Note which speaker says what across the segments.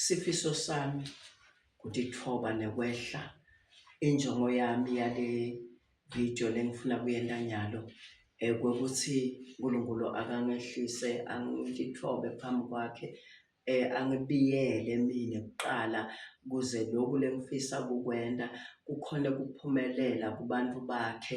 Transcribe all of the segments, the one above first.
Speaker 1: Sifiso sami ukuthi ithoba nekwehla injongo yami yale video lengifuna kuyenta nyalo ukuthi uNkulunkulu akangehlise angithobe phambi kwakhe angibiyele mina kuqala kuze lokhu lengifisa kukwenta kukhona ukuphumelela kubantu bakhe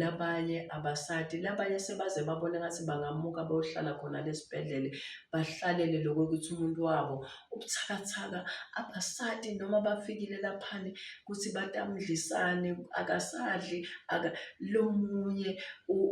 Speaker 1: labanye abasadi labanye sebaze babona ngathi bangamuka bayohlala khona lesibhedlele bahlalele lokho ukuthi umuntu wabo ubuthakathaka abasadi noma bafikile laphani ukuthi batamdlisane akasadli aka lomunye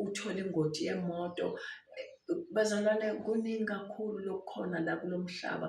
Speaker 1: uthola ingoti yemoto bazalwane kuningi kakhulu lokukhona la kulomhlaba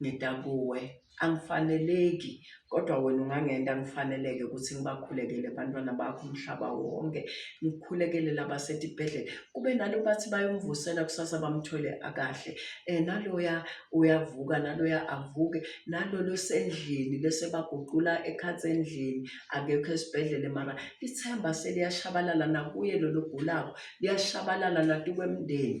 Speaker 1: Ngida kuwe, angifaneleki kodwa wena ungangenta ngifaneleke ukuthi ngibakhulekele abantwana bakho umhlaba wonke, ngikhulekele labasetibhedlela. Kube nalo bathi bayomvusela kusasa bamthole akahle. Eh naloya uyavuka naloya avuke, nalolo sendlini bese baguqula ekhatsi endlini akekho esibhedlela mara ithemba seliyashabalala nakuye lolo ogulako, liyashabalala natukwemndeni.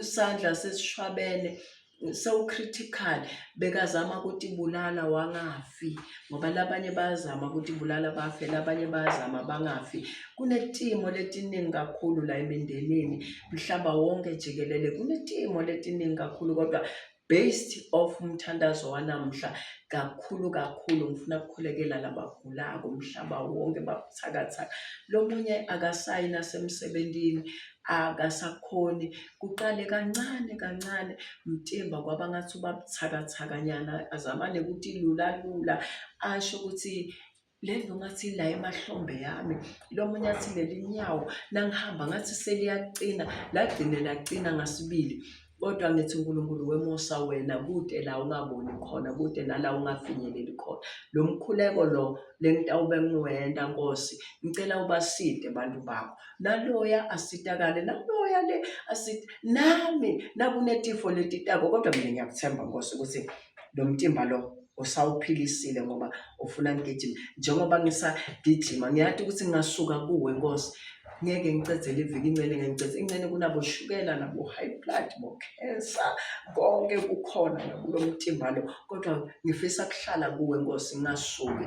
Speaker 1: isandla sesishwabene sewucritical bekazama ukuthi bulala wangafi ngoba labanye bayazama ukuthi bulala bafe labanye bayazama bangafi kunetimo letiningi kakhulu la emindenini mhlaba wonke jikelele kunetimo letiningi kakhulu kodwa Based off umthandazo wanamuhla kakhulu kakhulu ngifuna kukhulekela labagulako umhlaba wonke babuthakathaka. Lomunye akasayi nasemsebenzini akasakhoni kuqale kancane kancane mtimba kwaba ngathi ubabuthakathakanyana azamane ukuthi lula lula asho ukuthi le nto ngathi la emahlombe yami lo munye athi leli nyawo nangihamba ngathi seliyaqina lagcine laqina ngasibili kodwa ngithi uNkulunkulu wemusa wena kude la ungaboni khona kude nala ungafinyeleli khona lo mkhuleko lo le ntawube ngiwenda nkosi ngicela ubaside abantu bakho naloya asitakale naloya le asita nami nakunetifo letitako kodwa mina ngiyakuthemba nkosi ukuthi lo mtimba lo usawuphilisile ngoba ufuna ngigijime njengoba ngisagijima ngiyati ukuthi ngingasuka kuwe nkosi ngeke ngicedzele iviki incene ngeke ngicedze incene kunaboshukela nabo-high blood bokhensa konke kukhona nakulo mtimba lo kodwa ngifisa kuhlala kuwe nkosi ngingasuki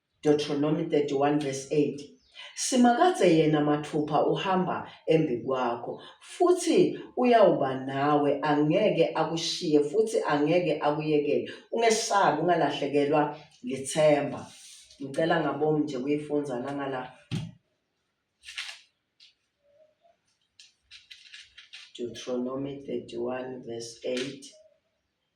Speaker 1: Deuteronomy 31 verse 8 Simakadze yena mathupha uhamba embikwakho futhi uyawuba nawe angeke akushiye futhi angeke akuyekele ungesabi ungalahlekelwa lithemba ngicela ngabomi nje kuyifundza nangala Deuteronomy 31 verse 8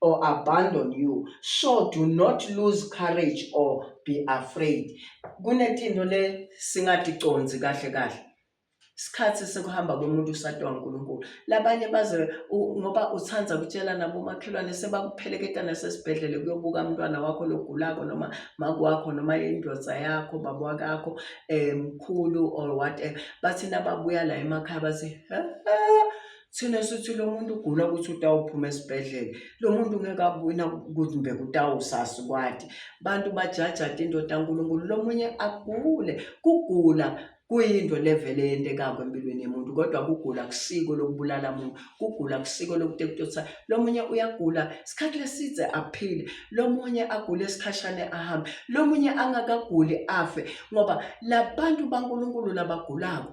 Speaker 1: or abandon you so do not lose courage or be afraid kunetinto le singaticonzi kahle kahle isikhathi sekuhamba komuntu usatwa uNkulunkulu labanye baze ngoba uthanda kutshela nabo makhelwane sebakupheleketa nasesibhedlele kuyobuka umntwana wakho logulako noma makwakho noma indoda yakho baba wakakho um mkhulu or whatever bathi nababuya la emakhaya bathi Thina sithi lo muntu ugula ukuthi utawuphuma esibhedlela lo muntu ngeke abuyina ukuthi mbe kutawusasi kwati bantu bajajata indoda kaNkulunkulu lo munye agule kugula kuyinto levele yentekako empilweni yemuntu kodwa kugula kusiko lokubulala muntu kugula kusiko lokuthi kutotsa lomunye uyagula isikhathi lesidze aphile lomunye agule isikhashane ahambe lomunye angakaguli afe ngoba labantu baNkulunkulu labagulako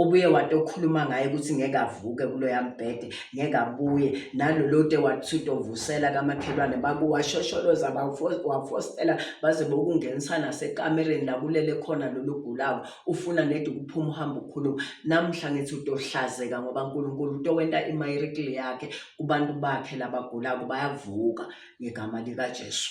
Speaker 1: Ubuye wati okhuluma ngaye ukuthi ngeke avuke kuloya mbhede, ngeke abuye. Nalolo te wathi utovusela kamakhelwane bakuwashosholoza wafostela baze bokungenisa nasekamereni la kulele khona lolu gulawo. Ufuna nedi ukuphuma uhamba ukhuluma. Namuhla ngithi utohlazeka ngoba uNkulunkulu utowenta imayirikili yakhe kubantu bakhe labagulako bayavuka ngegama likaJesu.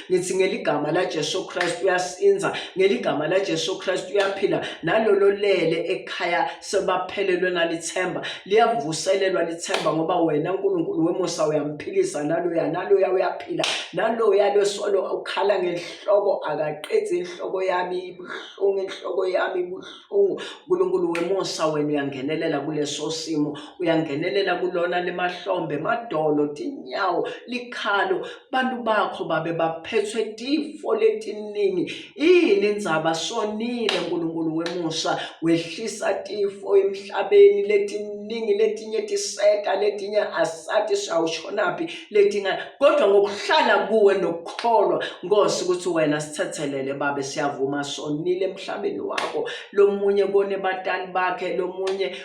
Speaker 1: ngithi ngeligama laJesu Kristu uyasinza ngeligama laJesu Kristu uyaphila nalolo lele ekhaya sebaphelelwe nalithemba liyavuselelwa lithemba ngoba wena uNkulunkulu wemusa uyamphilisa naloya naloya uyaphila naloya losolo ukhala ngenhloko akaqedzi inhloko yami ibuhlungu inhloko yami ibuhlungu uNkulunkulu wemusa wena uyangenelela kuleso simo uyangenelela kulona lemahlombe madolo tinyawo likhalo abantu bakho babe baphethwe tifo letiningi yini indzaba sonile nkulunkulu wemusa wehlisa tifo emhlabeni letiningi letinye tiseta letinye asati sawushonaphi letinga kodwa ngokuhlala kuwe nokukholwa nkosi ukuthi wena sithethelele babe siyavuma sonile emhlabeni wakho lomunye kone batali bakhe lomunye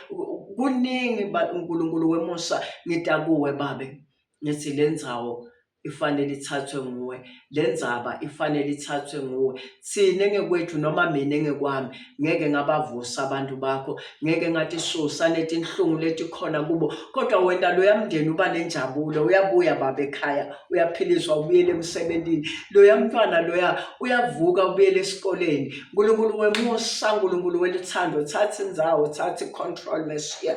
Speaker 1: kuningi uNkulunkulu wemusa ngita kuwe babe ngithi le ndzawo ifanele ithathwe nguwe le ndzaba ifanele ithathwe nguwe thina engekwethu noma mina engekwami ngeke ngabavusa abantu bakho ngeke ngathi susa netinhlungu letikhona kubo kodwa wena loya mndeni uba nenjabulo uyabuya baba ekhaya uyaphiliswa ubuyele emsebenzini loya mntwana loya uyavuka ubuyele esikoleni nkulunkulu wemusa nkulunkulu weluthando thatha indzawo thatha i-control mesiya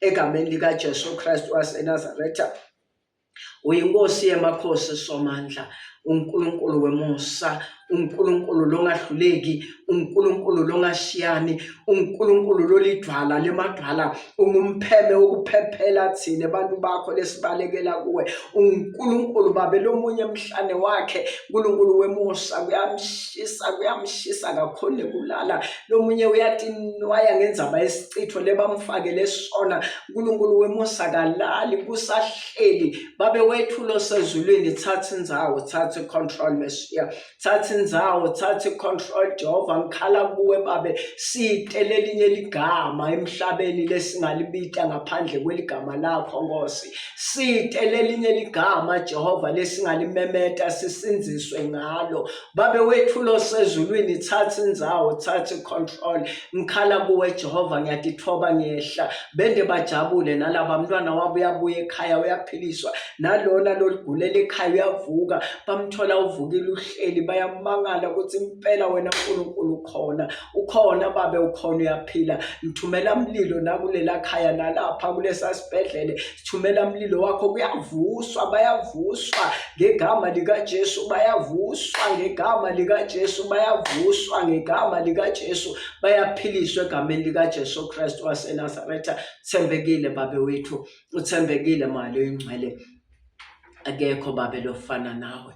Speaker 1: egameni likaJesu Kristu waseNazaretha uyinkosi yamakhosi somandla uNkulunkulu wemusa uNkulunkulu longahluleki uNkulunkulu longashiyani uNkulunkulu lolidwala lemadwala ungumpheme wokuphephela thina abantu bakho lesibalekela kuwe uNkulunkulu babe lomunye emhlane wakhe uNkulunkulu wemusa kuyamshisa kuyamshisa kakhulu kulala lomunye uyathi nwaya ngenzaba yesichitho lebamfakele sona uNkulunkulu wemusa kalali kusahleli babe wethulo sezulwini thatha indzawo thatha control Messiah thatha indzawo thatha control Jehova ngikhala kuwe babe site lelinye ligama emhlabeni lesingalibita ngaphandle kweligama lakho Nkosi site lelinye ligama Jehova lesingalimemeta sisinziswe ngalo Babe wethu lo sezulwini thatha indzawo thatha icontrol ngikhala kuwe Jehova ngiyatithoba ngiyehla bende bajabule nalaba mntwana wabo uyabuya ekhaya uyaphiliswa nalona loligulela ekhaya uyavuka bamthola uvukile uhleli bayamangala ukuthi impela wena uNkulunkulu khona ukhona babe ukhona uyaphila ngithumela umlilo nakulela khaya nalapha kulesa sibhedlele sithumela umlilo wakho kuyavuswa bayavuswa ngegama likaJesu bayavuswa ngegama likaJesu bayavuswa ngegama likaJesu bayaphiliswa egameni likaJesu Kristu waseNazaretha thembekile babe wethu uthembekile mali oyingcwele akekho babe lofana nawe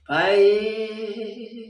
Speaker 1: hayi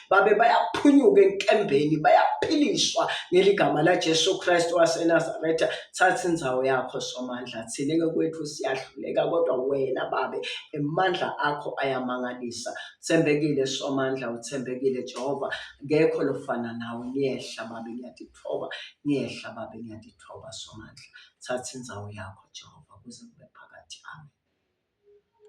Speaker 1: babe bayaphunyuka enkembeni bayaphiliswa ngeligama laJesu Kristu waseNazaretha thatha inzawo yakho somandla thina ngokwethu siyahluleka kodwa wena babe emandla akho ayamangalisa thembekile somandla uthembekile Jehova ngekho lofana nawe ngiyehla babe ngiyadithoba ngiyehla babe ngiyadithoba somandla thatha inzawo yakho Jehova kuze kube phakathi amen